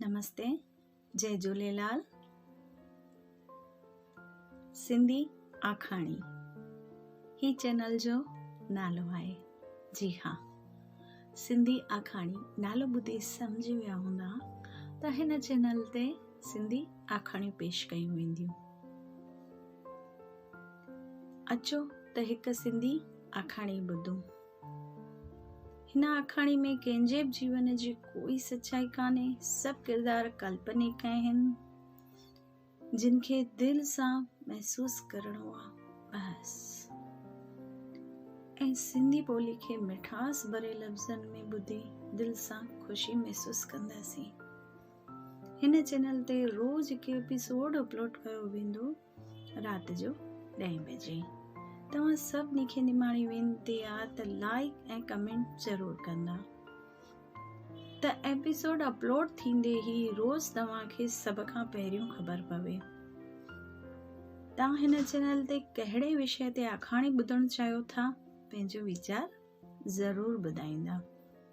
نمستي جي جهوليلال سنڌي آکاڻي هي چينل جو نالو آهي جي ها سنڌي آکاڻي نالو ٻڌي سمجهي ويا هوندا ته هن چينل تي سنڌي آکاڻيون پيش ڪيون وينديون اچو ته هڪ سنڌي آکاڻي ٻڌون هن آکاڻي ۾ ڪنهن جي به جيون جي ڪوئي سچائي ڪانهي سڀ ڪردار ڪلپنيڪ آهن جن کي دل سان محسوس ڪرڻو آهي بس ۽ سنڌي ٻولي کي مٺاس ڀري لفظن ۾ ٻڌي دل سان خوشي محسوس ڪنداسين هن چينل تي روز هڪ ايپيسوڊ اپلوڊ ڪيو ويندو رات جو ڏهين بجي توهان سڀني کي نماڻي وينتي آ ته لائڪ ۽ ڪمينٽ ضرور ڪندا ته ايپيسوڊ اپلوڊ ٿيندي هي روز توهان کي سڀ کان پهريون خبر پوي توهان هن چينل تي ڪهڙي وشي تي آکاڻي ٻڌڻ چاهيو ٿا پنهنجو ويچار ضرور ٻڌائيندا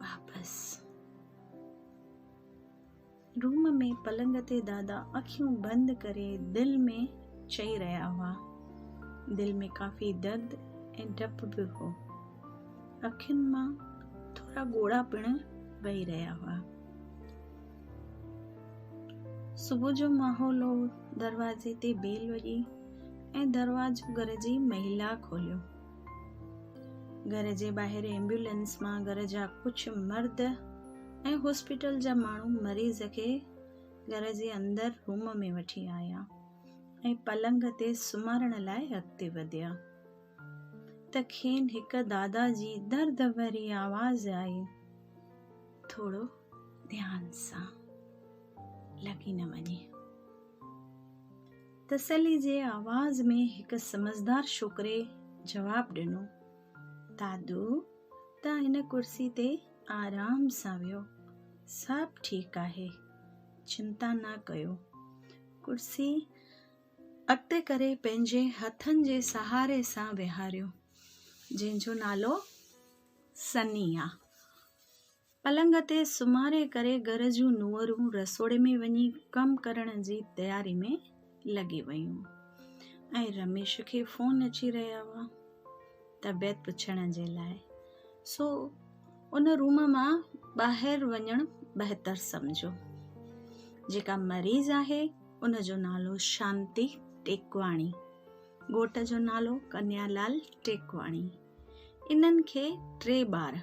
واپس روم ۾ پلنگ تي دادا اکيون بند ڪري دل ۾ چئي رهيا هئا. دل ۾ ڪافي درد ۽ ڊپ به هو. اکين مان ٿورا ڳوڙها پڻ وهي رهيا هئا. صبح جو ماحول هو دروازي تي بيل وڄي ۽ دروازو گهر جي مهيلا کوليو. گهر جي ٻاهر ايمبولينس مان گهر جا ڪجهه مرد ۽ هاسپيٽل جا ماڻهو مريض کي گهر جي اندر روم ۾ وٺي آيا ۽ پلنگ تي سمهارڻ لاء اڳتي وڌيا ته کين هڪ دادا جي درد ڀري آواز آئي ٿورو ڌيان سان لڳي نه وڃي تسلي جي آواز ۾ هڪ سمجهدار ڇوڪري جواب ڏنو، دادو ته هن ڪرسي تي آرام سان ويهو، سڀ ٺيڪ آهي، چنتا نه ڪيو. ڪرسي اڳتي ڪري پنهنجي هٿن جي سهاري سان ويهاريو، جنهن جو نالو سني آ. پلنگ تي سمهاري ڪري گهر جون نونهرون رسوڙي ۾ وڃي ڪم ڪرڻ جي تياري ۾ لڳي ويون ۽ رميش کي فون اچي رهيا هئا طبيعت پڇڻ جي لاء سو ان روم مان ٻاهر وڃڻ بهتر سمجهيو جيڪا مريض آهي ان جو نالو شانتي ٽيڪواڻي ڳوٺ جو نالو ڪنيا لال ٽيڪواڻي انهن کي ٽي ٻار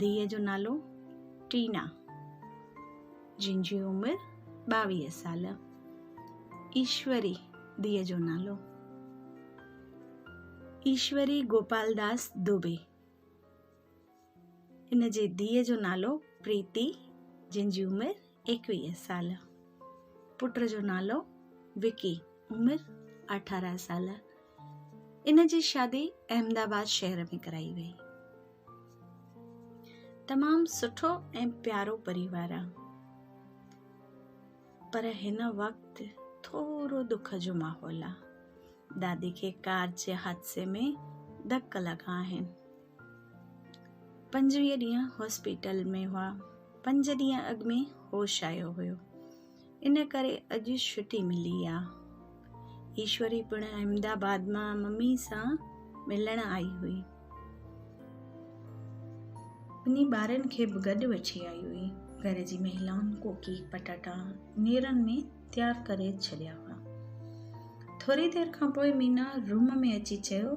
ڌيء جو نالو ٽينا جنهن جي عمر ٻاويهه سال ايشوري ڌيء جو نالو ايشوري گوپال داس دوبي ان جي ڌيء جو نالو پريتي جنهن جي عمر ايڪويهه سال، پٽ جو نالو وڪي، عمر اٺارهن سال، ان جي شادي احمد آباد شهر ۾ ڪرائي وئي. تمام سٺو ۽ پيارو پريوار آ پر هن وقت ٿورو دک جو ماحول آ. دادي کي ڪار جي حادثي ۾ ڌڪ لڳا آهن. پنجويهه ڏينهن هاسپيٽل ۾ هئا. پنج ڏينهن اڳ ۾ هوش آيو هيو. ان ڪري اڄ ڇٽي ملي آ. ايشوري پڻ احمد آباد مان ممي سان ملڻ آئي هئي. ٻنهي ٻارن کي به گڏ وٺي آئي هئي. گهر جي مهلائن ڪوڪي پٽاٽا نيرن ۾ تيار ڪري ڇڏيا هئا. ٿوري دير کان پوء مينا روم ۾ اچي چيو،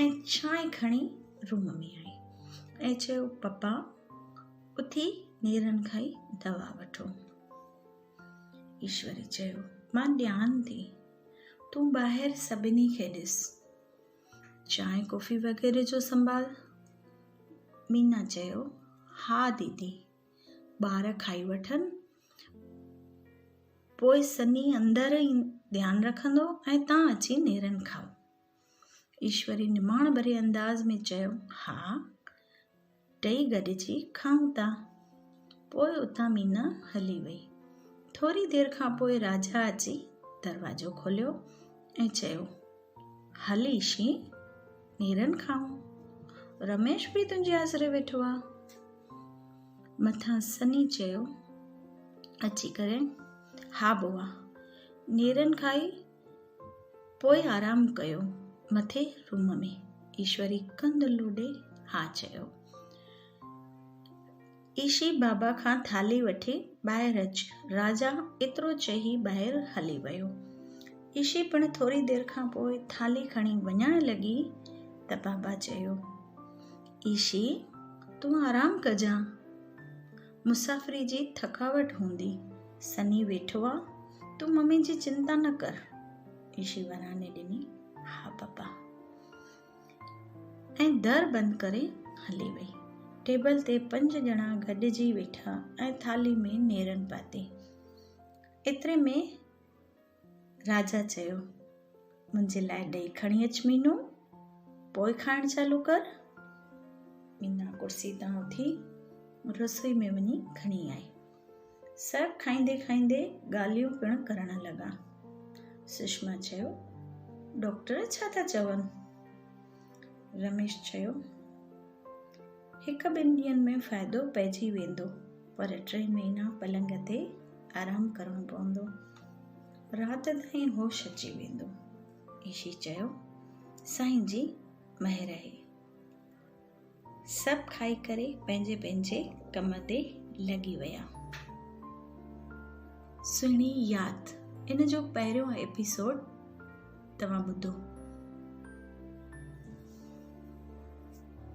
۽ ڇانء کڻي روم ۾ آئي ۽ چيو پپا اٿي نيرن کائي دوا وٺو ايشوري چيو مان ڏيان ٿي تون ٻاهر سڀني کي ڏس چانء ڪوفي وغيره جو سنڀال مينا چيو ها ديدي ٻار کائي وٺن پوء سني اندر ڌيان رکندو ۽ تان اچي نيرن کائو ايشوري نماڻ ڀري انداز ۾ چيو، ها، ٽئي گڏجي کائون ٿا. پوء اتان مينا هلي وئي. ٿوري دير کان پوء راجا اچي دروازو کوليو ۽ چيو، هل ايشي، نيرن کائون. رميش به تنهنجي آسري ويٺو آ. مٿان سني چيو، اچي ڪري، ها بوا، نيرن کائي پوء آرام ڪيو مٿي روم ۾. ايشوري ڪنڌ لوڏي ها چيو. ايشي بابا کان ٿالهي وٺي ٻاهر اچ. راجا ايترو چئي ٻاهر هلي ويو. ايشي پڻ ٿوري دير کان پوء ٿالهي کڻي وڃڻ لڳي ته بابا چيو. ايشي تون آرام ڪجان. مسافري جي ٿڪاوٽ هوندي، سني ويٺو آ، تون ممي جي چنتا نه ڪر. ايشي وراڻي ڏني، ها پپا. ۽ در بند ڪري هلي وئي. ٽيبل تي پنج ڄڻا گڏجي ويٺا ۽ ٿالهي ۾ نيرن پاتي. ايتري ۾ راجا چيو، منهنجي لاء ڏئي کڻي اچ مينو، پوء کائڻ چالو ڪر. مينا ڪرسي تان اٿي رسوئي ۾ وڃي کڻي آئي. سڀ کائيندي کائيندي ڳالهيون پڻ ڪرڻ لڳا. سشما چيو، ڊاڪٽر ڇا ٿا چون؟ رميش چيو، هڪ ٻن ڏينهن ۾ فائدو پئجي ويندو پر ٽي مهينا پلنگ تي آرام ڪرڻو پوندو. رات تائين هوش اچي ويندو. عيشي چيو، سائين جي مهر اهي. سڀ کائي ڪري پنهنجي پنهنجي ڪم تي لڳي ويا. سهڻي ياد ان جو پهريون ايپيسوڊ توهان ٻڌو.